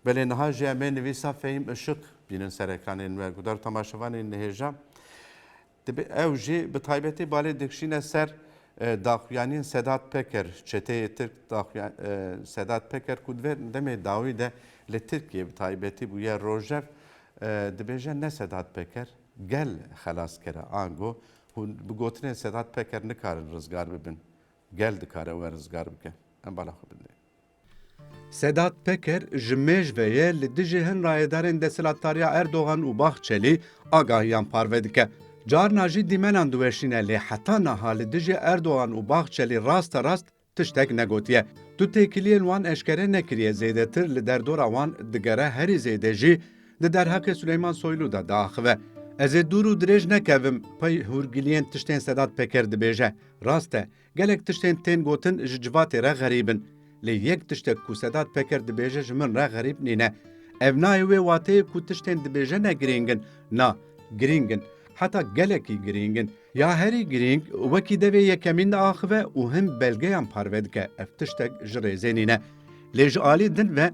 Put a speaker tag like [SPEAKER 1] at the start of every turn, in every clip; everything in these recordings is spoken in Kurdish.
[SPEAKER 1] Belê niha jî em ê nivîsa Fehîm Işık bînin serekanên me. Guhdar temaşevanê nihêja. Dibê ew jî bi taybetî balê dikşîne ser daxuyaniyên Sedat Peker, çeteyê Tirk Sedat Peker ku divê demê dawî de li Tirkiye bi taybetî bûye rojev dibêje ne Sedat Peker gel xelas kere ango hûn bi gotinên Sedat Peker nikarin rizgar bibin. Gel dikare we rizgar bike. Em bala xwe bindê.
[SPEAKER 2] Sedat Peker ji mêjveye li dijî hin rayedarên desthilatdariya Erdogan û Bahçelî agahiyan parve dike. Carna jî dîmenan diweşîne lê heta niha li dijî Erdogan û Bahçelî rasterast tiştek negotiye. Du têkiliyên wan eşkere nekiriye zêdetir li derdora wan digere herî zêde jî di derheqê Suleyman Soylu de diaxive. Ez ê dûr û dirêj nekevim pey hûrgiliyên tiştên Sedat Peker dibêje. Rast e Gelek tiştên tên gotin ji civatê re xerîb in. Lê yek tiştek ku Sedat Peker dibêje ji min re xerîb nîne. Ev nayê wê wateyê ku tiştên dibêje ne girîng in. Na, girîng in. Heta gelekî girîng in. Ya herî girîng, wekî devê yekemîn diaxive û hin belgeyan parve dike, ev tiştek ji rêzê nîne. Lê ji alî din ve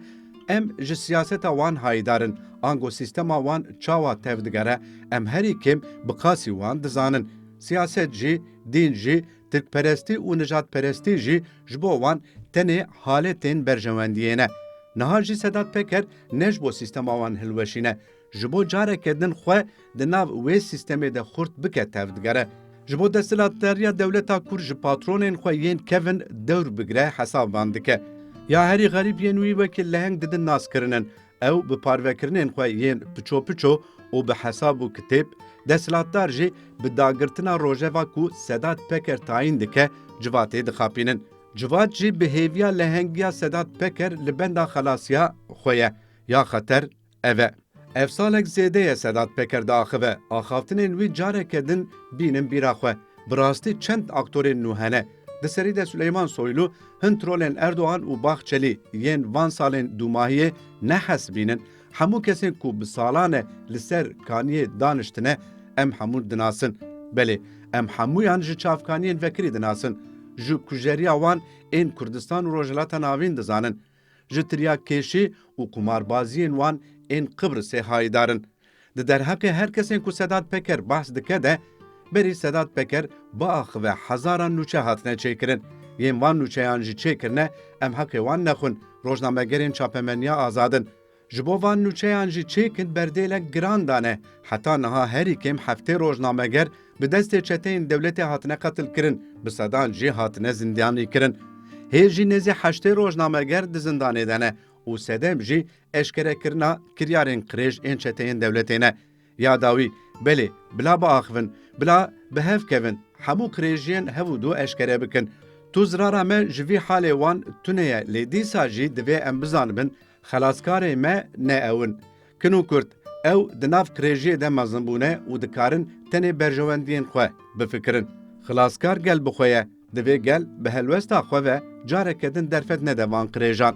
[SPEAKER 2] em ji siyaseta wan hayîdar in. Ango sîstema wan çawa tevdigere, em herî kêm bi qasî wan dizanin. Siyaset jî. Din jî, tirkperestî û nijadperestî jî ji bo wan tenê haletên berjewendiyê ne. Niha jî Sedat Peker ne ji bo sîstema wan hilweşîne, ji bo careke din xwe di nav wê sîstemê de xurt bike tev digere. Ji bo desthilatdariya dewleta Kurd ji patronên xwe yên kevin dewr bigire hesab van dike. Ya herî xerîb yên wî wekî leheng didin naskirinin. Ew bi parvekirinên xwe yên piço piço û bi hesab û kitêb, desthilatdar jî bi dagirtina rojeva ku Sedat Peker tayîn dike civatê dixapînin. Civat jî bi hêviya lehengiya Sedat Peker li benda xelasiya xwe ye ya xeter ev e. Ev salek zêde ye Sedat Peker diaxive, axavtinên wî careke din bînin bîra xwe, bi rastî çend aktorên nû hene, Di serî de Suleyman Soylu hin trolên Erdogan û Bahçelî yên van salên dûmahiyê ne hes bînin. Hemû kesên ku bi salan e li ser kaniyê daniştine em hemûn dinasin. Belê em hemûyan ji çavkaniyên vekirî dinasin. Ji kujeriya wan ên Kurdistan û Rojhilata Navîn dizanin. Ji tiryakkeşî û qumarbaziyên wan ên Qibrisê hayîdar in. Di derheqê her kesên ku Sedat Peker behs dike de, berî Sedat Peker biaxive hezaran nûçe hatine çêkirin. Yên van nûçeyan jî çêkirine, em heqê wan nexwin, rojnamegerên çapemeniya azad in. Ji bo van nûçeyan jî çêkin berdêlek giran dane. Heta niha herî kêm heftê rojnameger bi destê çeteyên dewletê hatine qetilkirin, bi sedan jî hatine zindiyanîkirin. Hê jî nêzî heştê rojnameger di zindanê de ne û sedem jî eşkerekirina kiryarên qirêj ên çeteyên dewletê ne. Ya dawî, belê, bila biaxivin, bila bi hev kevin, hemû qirêjiyên hev û du eşkere bikin. Tûzrara me ji vî halê wan tune ye lê dîsa jî divê em bizanibin Xelaskarê me ne ew in. Kin û kurt, ew di nav qirêjiyê de mezin bûne û dikarin tenê berjewendiyên xwe bifikirin. Xilaskar gel bi xwe ye, divê gel bi helwesta xwe ve careke din derfet nede van qirêjan.